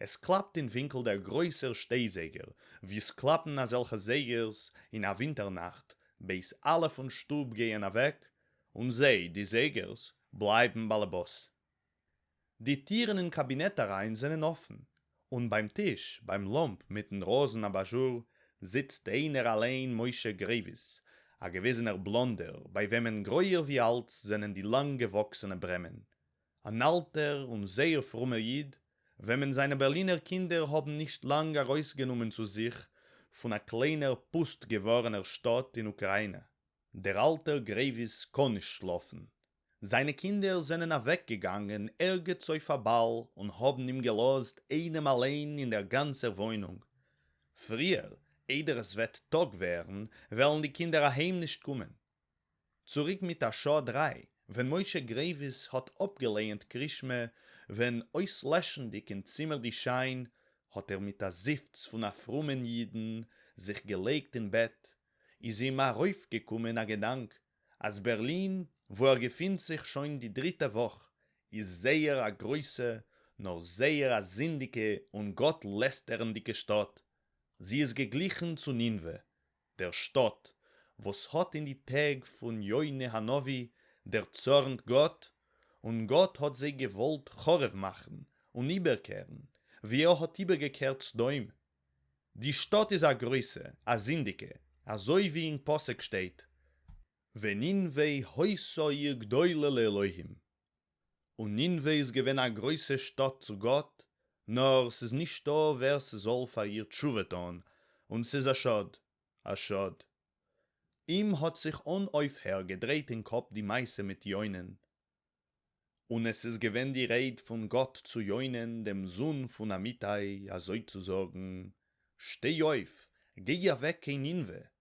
עס קלאַפּט אין װינקל דער גרױסער שטײ-זײגער, װי ס'קלאַפּן אַזעלכע זײגערס אין אַ װינטער-נאַכט, בעת אַלע פֿון שטוב גײען אַװעק, און זײ, די זײגערס, בלײַבן באַלעבאָס. די טירן אין קאַבינעט אַרײַן זענען אָפֿן, און בײַם טיש, בײַם לאָמפּ מיטן ראָזן-אַבאַזשור, זיצט אײנער אַלײן משה גרעװיס, אַ געװיזענער בלאָנדער, בײַ װעמען גרױער װי אַלץ זענען די לאַנג-געװאָקסענע ברעמען. אן אלטער און זייער פרומער איד, וועמען זיינע בערלינער קינדער האבן נישט לאנג ארויסגענומען צו זיך פון א קליינער פוסט געווארענער שטאט אין אוקריינע. דער אלטער גרעוויס קאן נישט שלאפן. זיינע קינדער זענען אוועקגעגאנגען ערגעץ אויף א באל און האבן אים געלאזט איינעם אליין אין דער גאנצער וואוינונג. פריער איידער עס וועט טאג ווערן, וועלן די קינדער אהיים נישט קומען. צוריק מיט א שעה דריי ווען משה גרעיוויס האט אפגעלייענט קרישמע ווען אויסלעשנדיג אין צימער די שיין האט ער מיט א זיפץ פון א פרומען אידן זיך געלייגט אין בעט איז אים ארויפגעקומען א געדאנק אז בערלין וואו ער געפינט זיך שוין די דריטע וואך איז זייער א גרויסע נאר זייער א זינדיגע און גאט לעסטערנדיגע שטאט זי איז געגליכן צו נינוה דער שטאט, וואס האט אין די טעג פון יונה הנביא דערצארנט גאט, און גאט האט זיי געוואלט חרוב מאכן און איבערקערן, ווי ער האט איבערגעקערט סדום. די שטאט איז א גרויסע, א זינדיגע, אזוי ווי אין פסוק שטייט, וננבה הויסה עיר גדולה לאלהים, און נינוה איז געווען א גרויסע שטאט צו גאט, נאר ס'איז נישטא ווער ס'זאל פאר איר תשובה טון, און ס'איז א שאד, א שאד. אים האט זיך אן אויפהער געדרייט אין קאפ די מעשה מיט יונה'ן, און עס איז געווען די רייד פון גאט צו יונה'ן דעם זון פון אמיתי, אזוי צו זאגן, שטיי אויף, גיי אוועק קיין נינוה,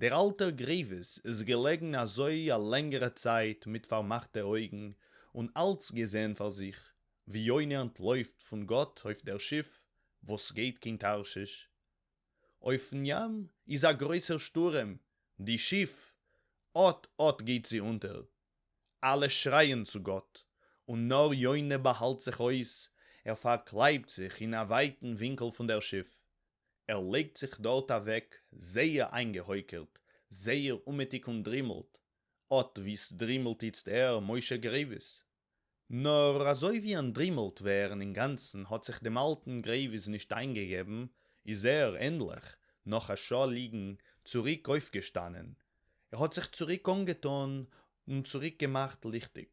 דער אַלטער גרעװיס איז געלעגן אַזױ אַ לענגערע צײַט מיט פֿאַרמאַכטע אױגן און אַלץ געזען פֿאַר זיך, װי יונה אַנטלױפֿט פֿון גאָט אױף דער שיף, װאָס גײט קין תּרשיש. אױפֿן ים איז אַ גרױסער שטורעם, די שיף, אָט-אָט גײט זי אונטער. אַלע שרײַען צו גאָט, און נאָר יונה באַהאַלט זיך אױס, ער פֿאַרקלײַבט זיך אין אַ װײַטן װינקל פֿון דער שיף, ער לײגט זיך דאָרט אַװעק זײער אײַנגעהױקערט, זײער אומעטיק און דרימלט, אָט װי ס'דרימלט איצט ער, משה גרײװיס. נאָר אַזױ װי אַנטדרימלט װערן אין גאַנצן האָט זיך דעם אַלטן גרײװיס נישט אײַנגעגעבן, איז ער, ענדלעך, נאָך אַ שעה ליגן, צוריק אױפֿגעשטאַנען. ער האָט זיך צוריק אָנגעטאָן און צוריק געמאַכט ליכטיק.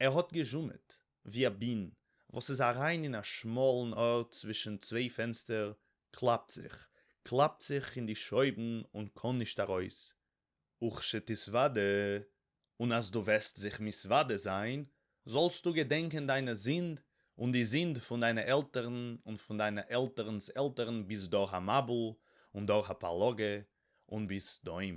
ער האָט געזשומעט, װי אַ בין, װאָס איז אַרײַן אין אַ שמאָלן אָרט צװישן צװײ פֿענצטער, קלאַפּט זיך, קלאַפּט זיך אין די שױבן און קאָן נישט אַרױס, וכשתתװדע, און אַז דו װעסט זיך מתװדע זײַן, זאָלסטו געדענקען דײַנע זינד און די זינד פֿון דײַנע עלטערן און פֿון דײַנע עלטערנס עלטערן ביז דור-המבול און דור-הפּלגה און ביז סדום.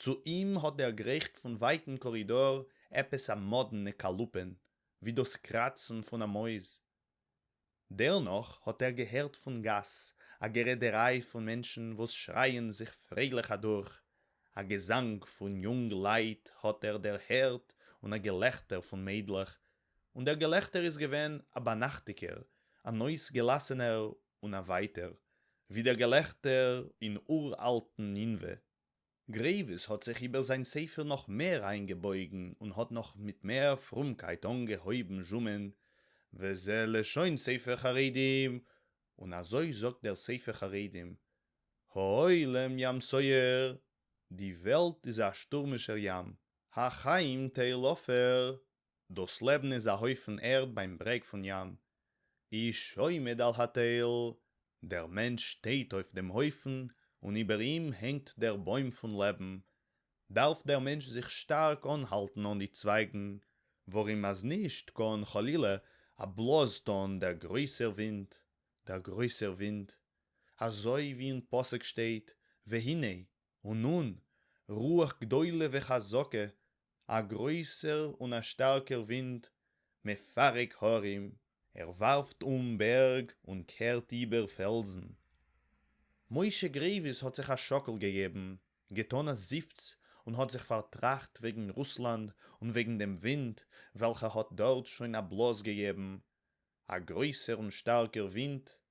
צו אים האָט דערגרייכט פון ווייטן קאָרידאָר עפּעס אַ מאָדנע קאַלופּען, ווי דאָס קראַצן פון אַ מויז. דערנאָך האָט ער געהערט פון גאַס אַ גערעדעריי פון מענטשן, וואָס שרייען זיך פרייליך אַדורך, אַ געזאַנג פון יונג-לייט האָט ער דערהערט און אַ געלעכטער פון מיידלעך, און דער געלעכטער איז געווען אַ ביינאַכטיקער, אַן אויסגעלאַסענער און אַװײַטער, װי דער געלעכטער אין אור-אַלטן נינװה. גרעװיס האָט זיך איבער זײַן ספֿר נאָך מער אײַנגעבױגן און האָט נאָך מיט מער פֿרומקײט אָנגעהױבן זשומען, וזו לשון ספֿר חרדים, און אַזױ זאָגט דער ספֿר חרדים, העולם ים סוער, די װעלט איז אַ שטורמישער ים, החיים תעלופֿה, דאָס לעבן איז אַ הויפֿן ערד בײַם ברעג פֿון ים, איש עומד על התּל, דער מענטש שטייט אויף דעם הויפֿן און איבער אים הענגט דער בוים פֿון לעבן, דאַרף דער מענטש זיך שטאַרק אָנהאַלטן אָן די צווײַגן, וואָרום אַז נישט, קאָן, חלילה, אַ בלאָז טאָן דער גרויסער ווינט, דער גרויסער ווינט, אַזוי ווי אין פּסוק שטייט, והנה, און אן רוח גדולה וחזקה, א גרויסער און א שטארקער ווינט, מפרק הרים, ער ווארפט אום בערג און קערט איבער פעלזן. משה גרעיוויס האט זיך א שאקל געגעבן, געטאן א זיפץ און האט זיך פארטראכט וועגן רוסלאנד און וועגן דעם ווינט וועלכע האט דארט שוין א בלאז געגעבן, א גרויסער און שטארקער ווינט,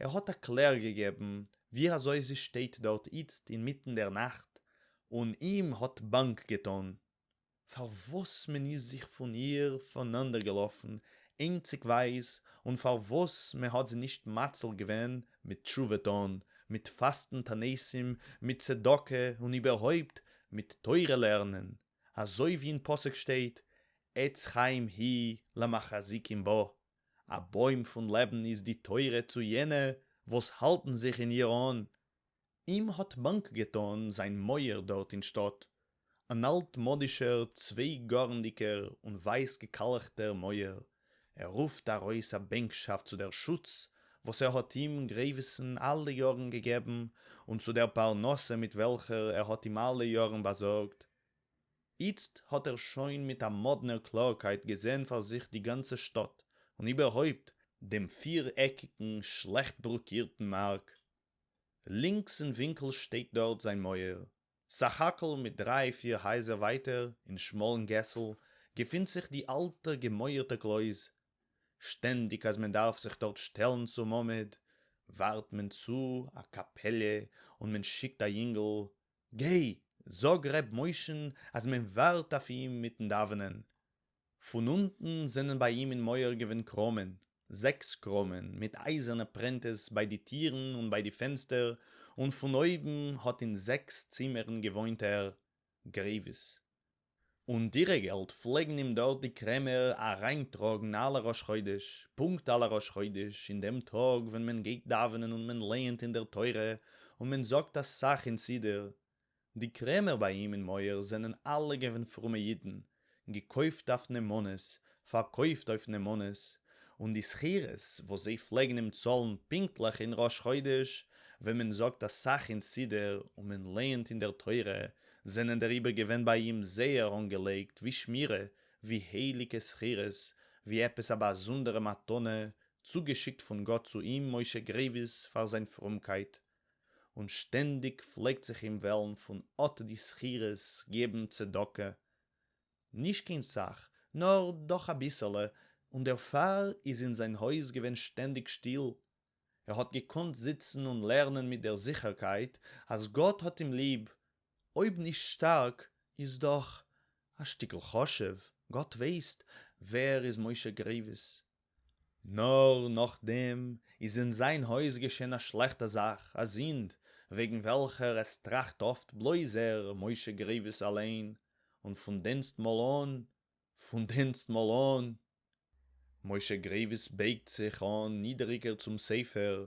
ער האט א קלער געגעבן ווי אזוי זי שטייט דארט איצט אינמיטן דער נאכט און אים האט באנק געטאן פארוואס מען איז זיך פון איר פונאנדערגעלאפן איינציגווייז און פארוואס מען האט זי נישט מציל געווען מיט תשובה טאן, מיט פאסטן תעניתים, מיט צדקה און איבערהויפט מיט תורה לערנען, אזוי ווי אין פסוק שטייט עץ חיים היא למחזיקים בה, א בוים פון לעבן איז די תורה צו יענע וואס האלטן זיך אין איר אן. אים האט באנק געטאן זיין מויער דארט אין שטאט, אן אלט-מאדישער צוויי-גארנדיגער און ווייס-געקאלכטער מויער, ער רופט ארויס א בענקשאפט צו דער שוץ וואס ער האט אים, גרעוויס'ן, אלע יארן געגעבן, און צו דער פרנסה מיט וועלכער ער האט אים אלע יארן באזארגט. איצט האָט ער שוין מיט אַ מאָדנער קלאָרקייט געזען פֿאַר זיך די גאַנצע שטאָט, און איבערהויפּט, דעם פֿיר-עקיקן, שלעכט ברוקירטן מאַרק. לינקס אין ווינקל שטייט דאָרט זײַן מויער. סך-הכּל מיט דרײַ-פֿיר הייזער ווײַטער, אין שמאָלן געסל, געפֿינט זיך די אַלטע, געמויערטע קלויז. שטענדיק, אַז מען דאַרף זיך דאָרט שטעלן צום עמוד, וואַרט מען צו אַ קאַפּעלע און מען שיקט אַ ייִנגל, גיי, זאג ר' משה'ן אז מען ווארט אויף אים מיטן דאווענען. פון אונטן זענען ביי אים אין מויער געווען קראמען, זעקס קראמען מיט אייזערנע פרענטעס ביי די טירן און ביי די פענסטער, און פון אויבן האט אין זעקס צימערן געוואוינט ער, גרעיווס. און דירה געלט פלעגן אים דארט די קרעמער אריין טראגן אלע ראש חודש, פונקט אלע ראש חודש אין דעם טאג ווען מען גייט דאווענען און מען לייענט אין דער תורה און מען זאגט אסאך אין סידור, די קרעמער ביי אים אין מויער זענען אלע געווען פרומע אידן, געקויפט אויף נאמנות, פארקויפט אויף נאמנות, און די שכירות וואס זיי פלעגן אים צאלן פונקטליך אין ראש חודש, ווען מען זאגט אסאך אין סידור און מען לערנט אין דער תורה, זענען דעריבער געווען ביי אים זייער אנגעלייגט ווי שמירה, ווי הייליגע שכירות, ווי עפעס א באזונדערע מתנה צוגעשיקט פון גאט צו אים משה גרעיוויס פאר זיין פרומקייט, און שטענדיג פלעגט זיך אים וועלן פון אט די שכירות געבן צדקה, נישט קיין סך, נאָר דאָך אַ ביסעלע, און דערפֿאַר איז אין זײַן הויז געווען שטענדיק שטיל. ער האָט געקאָנט זיצן און לערנען מיט דער זיכערקייט, אַז גאָט האָט אים ליב, אויב נישט שטאַרק, איז דאָך, אַ שטיקל חשוב, גאָט ווייסט, ווער איז משה גרייוויס. נאר נאכדעם איז אין זיין הויז געשען א שלעכטע זאך, א זינד, וועגן וועלכער עס טראכט אפט בלויז ער, משה גרעיוויס אליין, און פון דענסטמאל אן, פון דענסטמאל אן, משה גרעיוויס בייגט זיך אן נידעריגער צום ספר,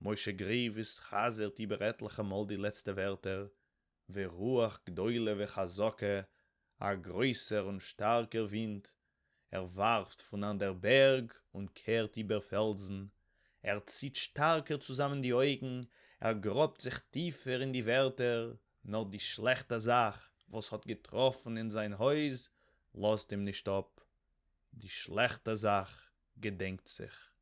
משה גרעוויס חזר'ט איבער עטליכע מאל די לעצטע ווערטער, ורוח גדולה וחזקה, א גרויסער און שטארקער ווינט, ער ווארפט פון אן דער בערג און קערט איבער פעלדזן, ער ציט שטארקער צוזאמען די אויגן, ער גראבט זיך טיפער אין די ווערטער, נאר די שלעכטע זאך וואס האט געטראפן אין זיין הויז לאזט אים נישט אפ, די שלעכטע זאך געדענקט זיך.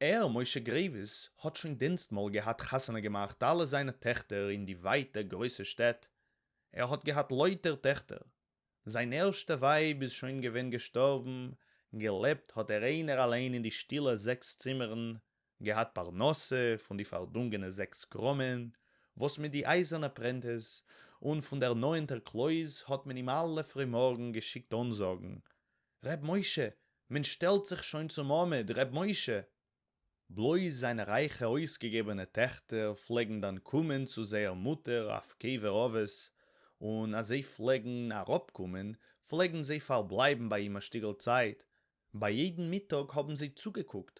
ער, משה גרעיוויס, האט שוין דינסטמאל געהאט חתונה געמאכט אלע זיינע טעכטער אין די ווייטע גרויסע שטעט, ער האט געהאט לויטער טעכטער, זיין ערשטע ווייב איז שוין געווען געשטארבן, געלעבט האט ער איינער אליין אין די שטילע זעקס צימערן, געהאט פרנסה פון די פארדונגענע זעקס קראמען וואס מיט די אייזערנע פרענטעס און פון דער נאענטער קלויז האט מען אים אלע פרימארגן געשיקט אנזאגן, ר' משה, מען שטעלט זיך שוין צום מעמד, ר' משה! בלויז זיינע רייכע אויסגעגעבענע טעכטער פלעגן דאן קומען צו זייער מוטער אויף קבר אבות, און אז זיי פלעגן אראפקומען, פלעגן זיי פארבלייבן ביי אים א שטיגל צייט, ביי יעדן מיטאג האבן זיי צוגעקוקט,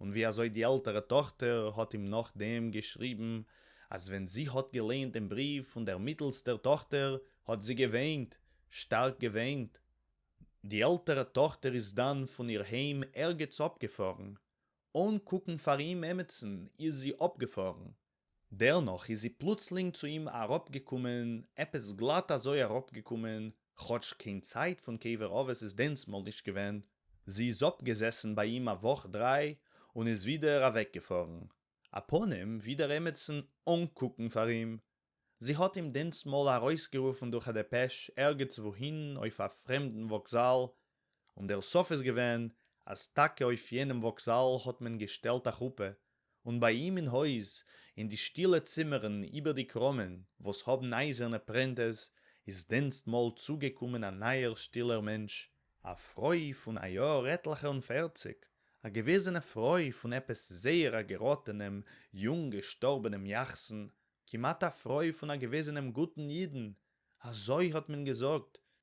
און ווי אזוי די עלטערע טאכטער האט אים נאכדעם געשריבן אז ווען זי האט געליינט דעם בריוו פון דער מיטעלסטער טאכטער האט זי געוויינט, שטארק געוויינט. די עלטערע טאכטער איז דאן פון איר היים ערגעץ אפגעפארן, אן קוקן פאר אים עמיצן איז זי אפגעפארן, דערנאך איז זי פלוצלינג צו אים אראפגעקומען, עפעס גלאט אזוי אראפגעקומען, כאטש קיין צייט פון קבר אבות איז דענסמאל נישט געווען, זי איז אפגעזעסן ביי אים א וואך דריי און איז ווידער אוועקגעפארן, אפנים ווי דער עמיצן אנקוקן פאר אים, זי האט אים דענסמאל ארויסגערופן דורך א דעפעש ערגעץ וואוהין אויף א פרעמדן וואקזאל, און דער סוף איז געווען אז טאקע אויף יענעם וואקזאל האט מען געשטעלט א חופה, און ביי אים אין הויז, אין די שטילע צימערן איבער די קראמען וואס האבן אייזערנע פרענטעס, איז דענסטמאל צוגעקומען א נייער שטילער מענטש, א פרוי פון א יאהר עטליכע און פערציג, א געוועזענע פרוי פון עפעס זייער א געראטענעם יונג געשטארבענעם יחסן, כמעט א פרוי פון א געוועזענעם גוטן אידן, אזוי האט מען געזאגט,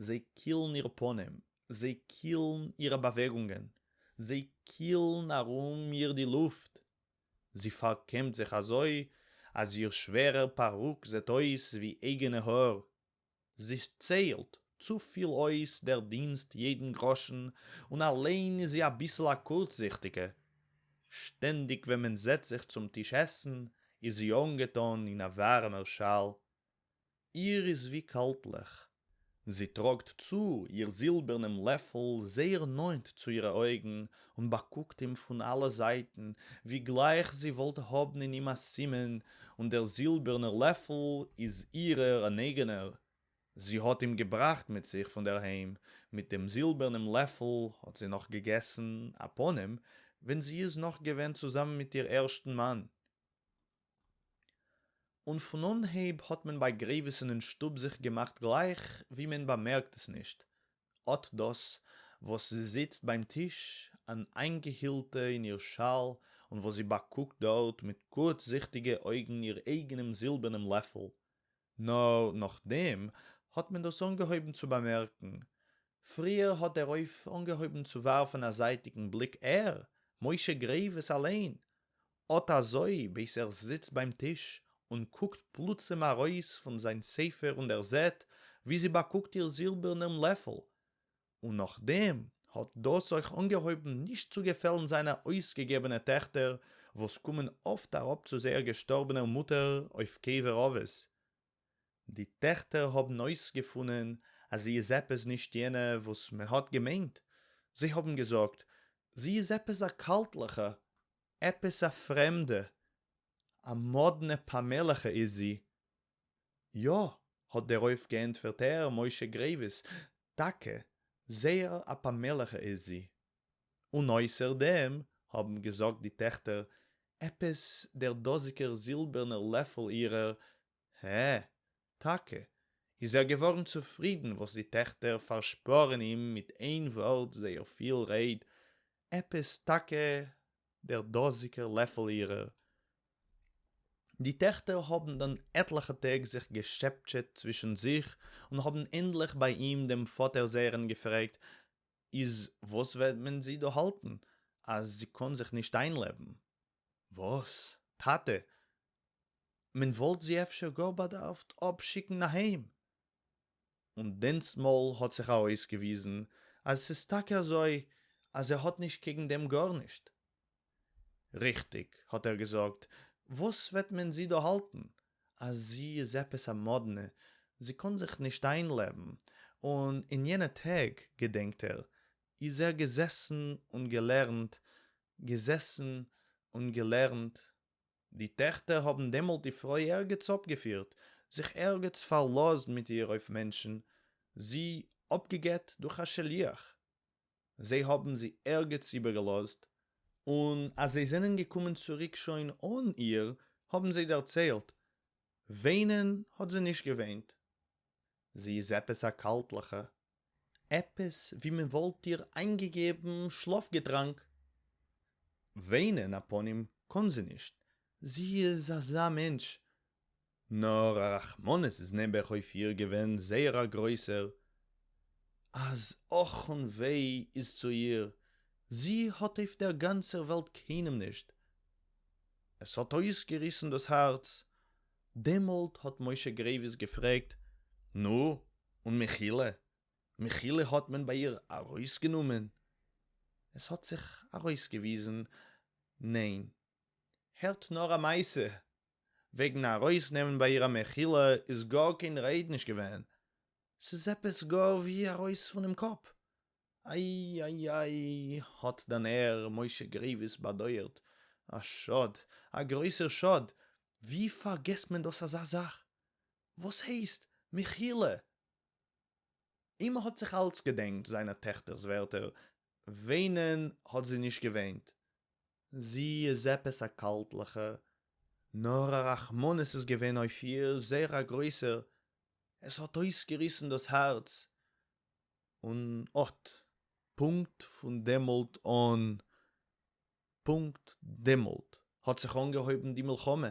זיי קילן איר פנים, זיי קילן אירע באוועגונגען, זיי קילן ארום איר די לופט, זי פארקעמט זיך אזוי אז איר שווערער פארוק זעט אויס ווי אייגענע האר, זי ציילט צופיל אויס דער דינסט יעדן גראשן, און אליין איז זי אביסל א קורצזיכטיגע, שטענדיג ווען מען זעצט זיך צום טיש עסן איז זי אנגעטאן אין א ווארעמער שאל, איר איז װי קאַלטלעך. זי טראָגט צו איר זילבערנעם לעפֿל זײער נאָענט צו אירע אױגן און באַקוקט אים פֿון אַלע זײַטן, װי גלײַך זי װאָלט האָבן אין אים אַ סימן, און דער זילבערנער לעפֿל איז אירער אַן אײגענער, זי האָט אים געבראַכט מיט זיך פֿון דער הײם, מיט דעם זילבערנעם לעפֿל האָט זי נאָך געגעסן, אַ פּנים, װען זי איז נאָך געװען צוזאַמען מיט איר ערשטן מאַן. און פון אנהייב האט מען ביי גרעיוויס'ן אין שטוב זיך געמאכט גלייך ווי מען באמערקט עס נישט, אט דאס וואס זי זיצט ביים טיש אן איינגעהילטע אין איר שאל און וואס זי באקוקט דארט מיט גוטזיכטיגע אויגן איר אייגענעם זילבערנעם לעפל, נאר נאכדעם האט מען דאס אנגעהויבן צו באמערקן. פריער האט דערויף אנגעהויבן צו ווארפן א זייטיגן בליק ער, משה גרעיווס אליין, אט אזוי בעת ער זיצט ביים טיש און קוקט פלוצים ארויס פון זיין ספר און דערזעט ווי זי באקוקט איר זילבערנעם לעפל, און נאכדעם האט דאס אויך אנגעהויבן נישט צו געפעלן זיינע אויסגעגעבענע טעכטער וואס קומען אפט אראפ צו זייער געשטארבענער מוטער אויף קבר אבות. די טעכטער האבן אויסגעפונען אז זי איז עפעס נישט יענע וואס מען האט געמיינט, זיי האבן געזאגט זי איז עפעס א קאלטליכע, עפעס א פרעמדע, א מאדנע פאמעליכע איז זי, יא! האט דערויף געענטפערט ר משה גרעיוויס, טאקע, זייער א פאמעליכע איז זי. און אויסער דעם, האבן געזאגט די טעכטער, עפעס דער דאזיגער זילבערנער לעפל אירער, הע, טאקע, איז ער געווארן צופרידן וואס די טעכטער פארשפארן אים מיט איין ווארט זייער פיל רייד, עפּעס טאַקע דער דאָזיקער לעפֿל אירער. די טעכטער האָבן דאַן עטלעכע טעג זיך געשעפּטשעט צווישן זיך און האָבן ענדלעך בײַ אים דעם פֿאָטער זייערן געפֿרעגט, איז וואָס וועט מען זי דאָ האַלטן, אַז זי קאָן זיך נישט אײַנלעבן? וואס? טאטע, מען וואלט זי אפשר גאר באדארפט אפשיקן אהיים! און דענסטמאל האט זיך ארויסגעוויזן אז עס איז טאקע אזוי אז ער האט נישט קעגן דעם גארנישט. ריכטיג, האט ער געזאגט, וואס וועט מען זי דא האלטן, אז זי איז עפעס א מאדנע, זי קאן זיך נישט איינלעבן, און אין יענע טעג, געדענקט ער, איז ער געזעסן און געלערנט, געזעסן און געלערנט. די טעכטער האָבן דעמאָלט די פֿרוי ערגעץ אָפּגעפֿירט, זיך ערגעץ פֿאַרלאָזט מיט איר אויף מענטשן, זי אָפּגעגט דורך אַ שליח, זיי האָבן זי ערגעץ איבערגעלאָזט, און אַז זיי זענען געקומען צוריק שוין אָן איר, האָבן זיי דערציילט, וויינען האָט זי נישט געוויינט, זי איז עפּעס אַ קאַלטלעכע, עפּעס װי מען װאָלט איר אײַנגעגעבן שלאָפֿגעטראַנק. װײנען, אַ פּנים, קאָן זי נישט, זי איז אַזאַ מענטש, נאָר אַ רחמנות איז נעבעך אױף איר געװען זײער אַ גרױסער, אַז אָך און װײ איז צו איר, זי האָט אױף דער גאַנצער װעלט קײנעם נישט. עס האָט אױסגעריסן דאָס האַרץ, דעמאָלט האָט משה גרעװיס געפֿרעגט, נו, און מיכילע? מיכילע האָט מען בײַ איר אַרױסגענומען? עס האָט זיך אַרױסגעװיזן, נײן. הערט נאָר אַ מעשׂה! װעגן אַרױסנעמען בײַ איר אַ מיכילע איז גאָר קײן רײד נישט געװען. ס'איז עפּעס גאָר װי אַרױס פֿונעם קאָפּ. איי איי איי האט דען ר משה גרעיוויס באדויערט, א שאד, א גרויסער שאד, ווי פארגעסט מען דאס אזא זאך, וואס הייסט, מחילה! און מ'האט זיך אלץ געדענקט זיינע טעכטער'ס ווערטער, ווענען האט זי נישט געוועינט, זי איז עפעס א קאלטליכע, נאר א רחמנות איז געווען אויף איר, זייער א גרויסער, עס האט אויסגעריסן דאס הארץ, און אט פונקט פון דעמאלט אן, פונקט דעמאלט האט זיך אנגעהויבן די מלחמה,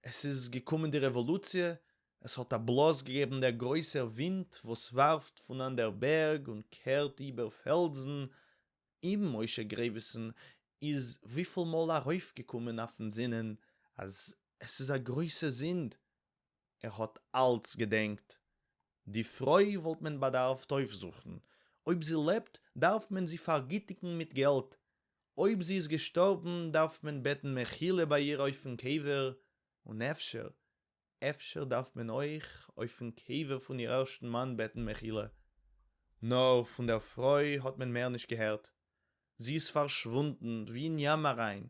עס איז געקומען די רעוואלוציע, עס האט א בלאזט געגעבן דער גרויסער ווינט וואס ווארפט פון אנדער בערג און קערט איבער פעלדזן, איבן משה גרעוויסן איז וויפיל מאל ארויפגעקומען אויפן זינען אז עס איז א גרויסע זינד ער האָט אַלץ געדענקט, די פֿרױ װאָלט מען באַדאַרפֿט אױפֿזוכן, אױב זי לעבט, דאַרף מען זי פֿאַרגיטיקן מיט געלט, אױב זי איז געשטאָרבן, דאַרף מען בעטן מחילה בײַ איר אױפֿן קבֿר, און אפֿשר, אפֿשר דאַרף מען אױך אױפֿן קבֿר פֿון איר ערשטן מאַן בעטן מחילה. נאָר פֿון דער פֿרױ האָט מען מער נישט געהערט. זי איז פֿאַרשװוּנדן, װי אין ים אַרײַן,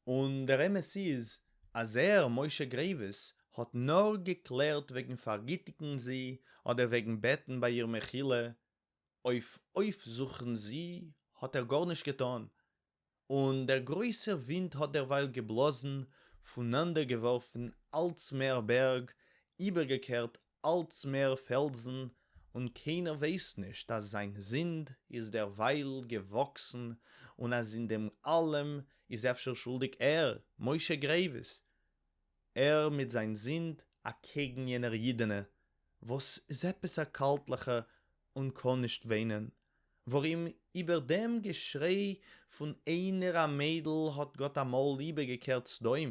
און דער אמת איז אז ער, משה גרעיווס, האט נאר געקלערט וועגן פארגיטיגן זי אדער וועגן בעטן ביי איר מחילה, אויף אויפזוכן זי האט ער גארנישט געטאן, און דער גרויסער ווינט האט דערווייל געבלאזן, פונאנדערגעווארפן אלץ מער בערג, איבערגעקערט אלץ מער פעלדזן, און קיינער ווייסט נישט אז זיין זינד איז דערווייל געוואקסן, און אז אין דעם אלעם איז אפשר שולדיג ער, משה גרעיוויס, ער מיט זיין זינד אקעגן יענער אידענע וואס איז עפעס א קאלטליכע און קאן נישט וואינען, ווארים איבער דעם געשריי פון איינער א מיידל האט גאט אמאל איבערגעקערט סדום,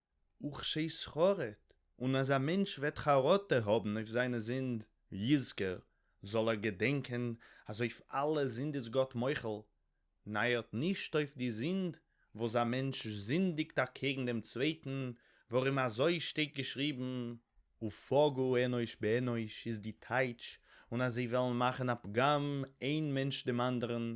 וכשזכרת, און אז א מענטש וועט חרטה האבן אויף זיינע זינד, יזכר, זאל ער געדענקען אז אויף אלע זינד איז גאט מוחל, נייערט נישט אויף די זינד וואס א מענטש זינדיגט אקעגן דעם צווייטן, ווארום אזוי שטייט געשריבן, ופגעו אנוש באנוש איז די טייטש, און אז זיי וועלן מאכן א פגם איין מענטש דעם אנדערן,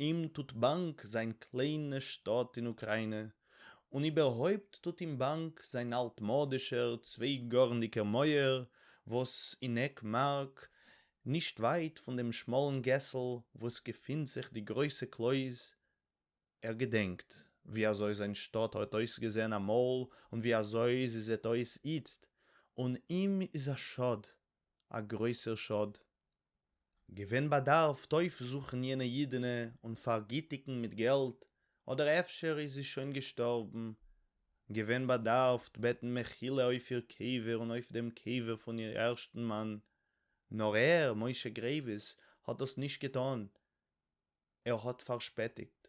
אים טוט באנג זיין קליינע שטאט אין אוקריינע, און איבערהויפט טוט אים באנג זיין אלטמאדישער צוויי-גארנדיגער מויער וואס אין עק מארק, נישט ווייט פון דעם שמאלן געסל וואס געפינט זיך די גרויסע קלויז. ער געדענקט ווי אזוי זיין שטאט האט אויסגעזען אמאל און ווי אזוי זי זעט אויס איצט, און אים איז א שאד, א גרויסער שאד, געווען באדארפט אויפזוכן יענע אידענע און פארגיטיגן מיט געלט, אדער אפשר איז זי שוין געשטארבן, געווען באדארפט בעטן מחילה אויף איר קבר און אויף דעם קבר פון איר ערשטן מאן, נאר ער, משה גרעיווס, האט דאס נישט געטאן, ער האט פארשפעטיגט.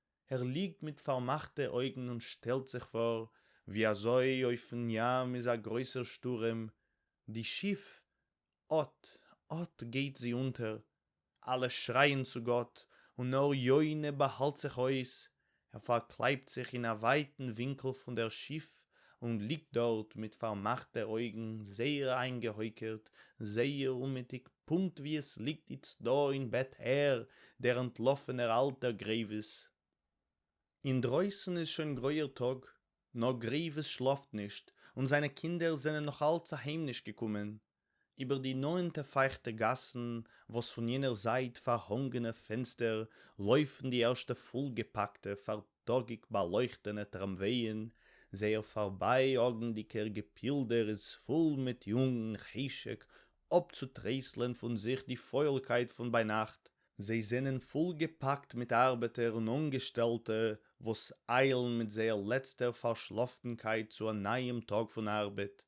ער ליגט מיט פארמאכטע אויגן און שטעלט זיך פאר ווי אזוי אויפן ים איז א גרויסער שטורעם, די שיף אט אט גייט זי אונטער, אלע שרייען צו גאט און נאר יונה באהאלט זיך אויס, ער פארקלייבט זיך אין א ווייטן ווינקל פון דער שיף און ליגט דארט מיט פארמאכטע אויגן זייער איינגעהויקערט, זייער אומעטיג פונקט ווי עס ליגט איצט דא אין בעט ער, דער אנטלאפענער אלטער גרעיווס. אינדרויסן איז שוין גרויער טאג, נאר גרעיווס שלאפט נישט, און זיינע קינדער זענען נאכאלץ אהיים נישט געקומען, איבער די נאָענטע פֿײַכטע גאַסן, װאָס פֿון יענער זײַט פֿאַרהאָנגענע פֿענצטער לױפֿן די ערשטע פֿול-געפּאַקטע פֿאַרטאָגיק-באַלױכטענע טראַמװײען, זײער פֿאַרבײַאָגנדיקער געפּילדער איז פֿול מיט יונגן חשק אָפּצוטרײסלען פֿון זיך די פֿױלקײט פֿון בײַנאַכט, זײ זענען פֿול געפּאַקט מיט אַרבעטער און אָנגעשטעלטע, װאָס אײַלן מיט זײער לעצטער פֿאַרשלאָפֿטנקײט צו אַ נײַעם טאָג פֿון אַרבעט,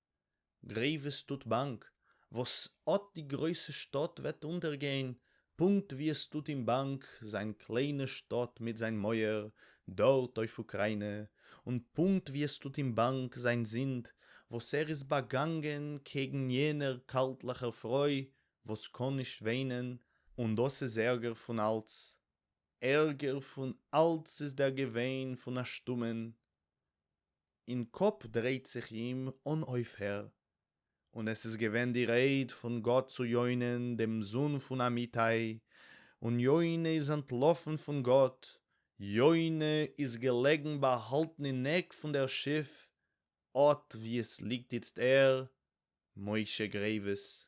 גרעיווס טוט באנק, וואס אט די גרויסע שטאט וועט אונטערגיין, פונקט ווי עס טוט אים באנק זיין קליינע שטאט מיט זיין מויער דארט אויף אוקריינע, און פונקט ווי עס טוט אים באנק זיין זינד וואס ער איז באגאנגען קעגן יענער קאלטליכער פרוי וואס קען נישט וויינען, און דאס איז ערגער פון אלץ, ערגער פון אלץ איז דער געוויין פון א שטומען אין קאפ דרייט זיך אים אן אויפהער, און עס איז געווען די רייד פון גאט צו יונה'ן דעם זון פון אמיתי, און יונה איז אנטלאפן פון גאט, יונה איז געלעגן באהאלטן אין עק פון דער שיף, אט וואו עס ליגט איצט ער, משה גרעיווס.